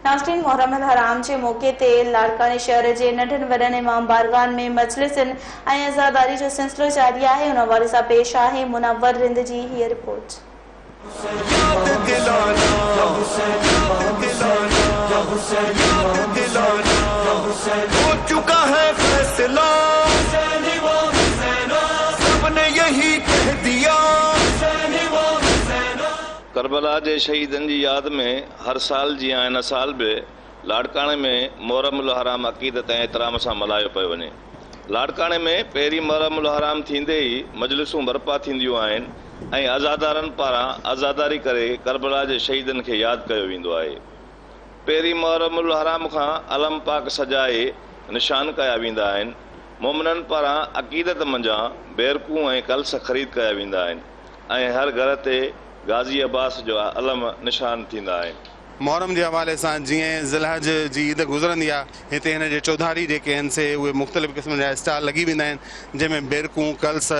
ناشرين محرم الحرام جي موقعي تي لاڙڪاڻي شهر جي ننڍن وڏن امام بارگاهن ۾ مجلسن ۽ عزاداري جو سلسلو جاري آهي ان حوالي سان پيش آهي منور رند جي هيء رپورٽ. ڪربلا جي شهيدن جي ياد ۾ هر سال جيان هن سال به لاڙڪاڻي ۾ محرم الحرام عقيدت ۽ احترام سان ملهايو پيو وڃي. لاڙڪاڻي ۾ پهرين محرم الحرام ٿيندي ئي مجلسون برپا ٿينديون آهن ۽ عزادارن پاران عزاداري ڪري ڪربلا جي شهيدن کي ياد ڪيو ويندو آهي. پهرين محرم الحرام کان علم پاڪ سجائي نشان ڪيا ويندا آهن. مومنن پاران عقيدت منجهان بيرڪون ۽ ڪلس خريد ڪيا ويندا آهن. ۽ هر گهر تي غازي عباس جو علم نشان ٿيندا آهن. محرم جي حوالي سان جيئن ذوالحج جي عيد گذرندي آهي، هتي هن جي چوڌاري جيڪي هن سي اهي مختلف قسمن جا اسٽال لڳي ويندا آهن، جنهن ۾ بيرڪون، ڪلس،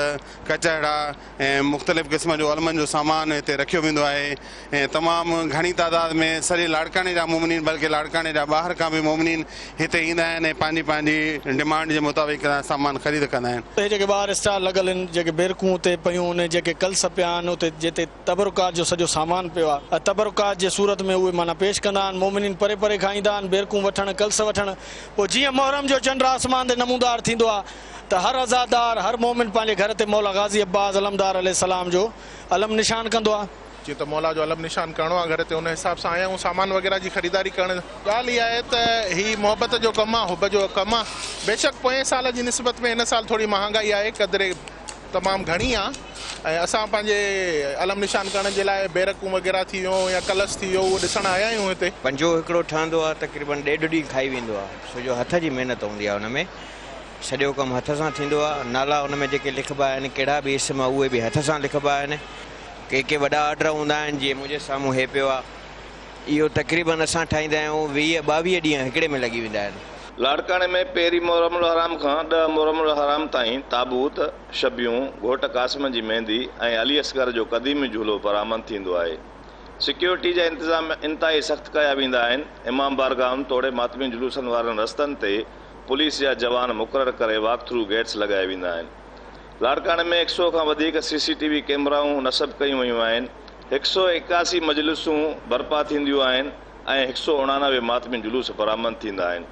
ڪچهڙا ۽ مختلف قسمن جو علمن جو سامان هتي رکيو ويندو آهي. ۽ تمام گهڻي تعداد ۾ سڄي لاڙڪاڻي جا مومنين بلڪه لاڙڪاڻي جا ٻاهر کان به مومنين هتي ايندا آهن ۽ پنهنجي پنهنجي ڊمانڊ جي مطابق سامان خريد ڪندا آهن. هي جيڪي ٻاهر اسٽال لڳل هن جيڪي بيرڪون اتي پيون هن جيڪي ڪلس پيا هن اتي جتي تبرڪات جو سڄو سامان پيو آهي ۽ تبرڪات جي صورت ۾ اهي معنيٰ پيش ڪندا آهن مومنين پري پري کان ايندا آهن بيرڪون وٺڻ ڪلس وٺڻ پوء جيئن محرم جو چنڊ آسمان تي نمودار ٿيندو آهي ته هر عزادار هر مومن پنهنجي گهر تي مولا غازي عباس علمدار عليه السلام جو علم نشان ڪندو آهي. جيئن ته مولا جو علم نشان ڪرڻو آ گهر تي ان حساب سان آيا آهيون سامان وغيره جي خريداري ڪرڻ. ڳالهه اها آهي ته هي محبت جو ڪم آ حب جو ڪم آ بيشڪ پوئين سال جي نسبت ۾ هن سال ٿوري مهانگائي آهي قدري تمام گهڻي آ ۽ اسان پنهنجي علم نشان ڪرڻ جي لاء بيرڪون وغيره ٿي ويون يا ڪلس ٿي ويو اهو ڏسڻ آيا آهيون هتي. پنجو هڪڙو ٺهندو آ تقريبن ڏيڍ ڏينهن کائي ويندو آ ڇو جو هٿ جي محنت هوندي آ ان ۾ سڄو ڪم هٿ سان ٿيندو آ نالا ان ۾ جيڪي لکبا آهن ڪهڙا به اسم اهي به هٿ سان لکبا آهن ڪي ڪي وڏا آرڊر هوندا آهن جيئن منهنجي سامهون هي پيو آهي اهو تقريبن اسان ٺاهيندا آهيون ويهه ٻاويهه ڏينهن هڪڙي ۾ لڳي ويندا آهن. لاڙڪاڻي ۾ پهرين محرم الحرام کان ڏهه محرم الحرام تائين تابوت، شبيون، گهوٽ قاسم جي ميندي ۽ علي اصغر جو قديمي جهولو برآمد ٿيندو آهي. سيڪيورٽي جا انتظام انتهائي سخت ڪيا ويندا آهن، امام بارگاهن توڙي ماتمي جلوسن وارن رستن تي پوليس جا جوان مقرر ڪري واڪ ٿرو گيٽس لڳايا ويندا آهن. لاڙڪاڻي ۾ هڪ سئو کان وڌيڪ سي سي ٽي وي ڪيمرائون نصب ڪيون ويون آهن، هڪ سئو ايڪاسي مجلسون برپا ٿينديون آهن ۽ هڪ سئو اڻانوي ماتمي جلوس برآمد ٿيندا آهن.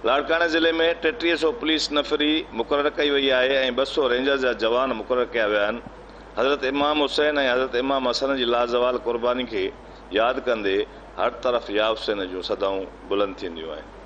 لاڙڪاڻي ضلعي ۾ ٽيٽيهه سئو پوليس نفري مقرر ڪئي وئي آهي ۽ ٻه سئو رينجرز جا جوان مقرر ڪيا ويا آهن. حضرت امام حسين ۽ حضرت امام حسن جي لازوال قرباني کي ياد ڪندي هر طرف ياحسين جون صدائون بلند ٿينديون آهن.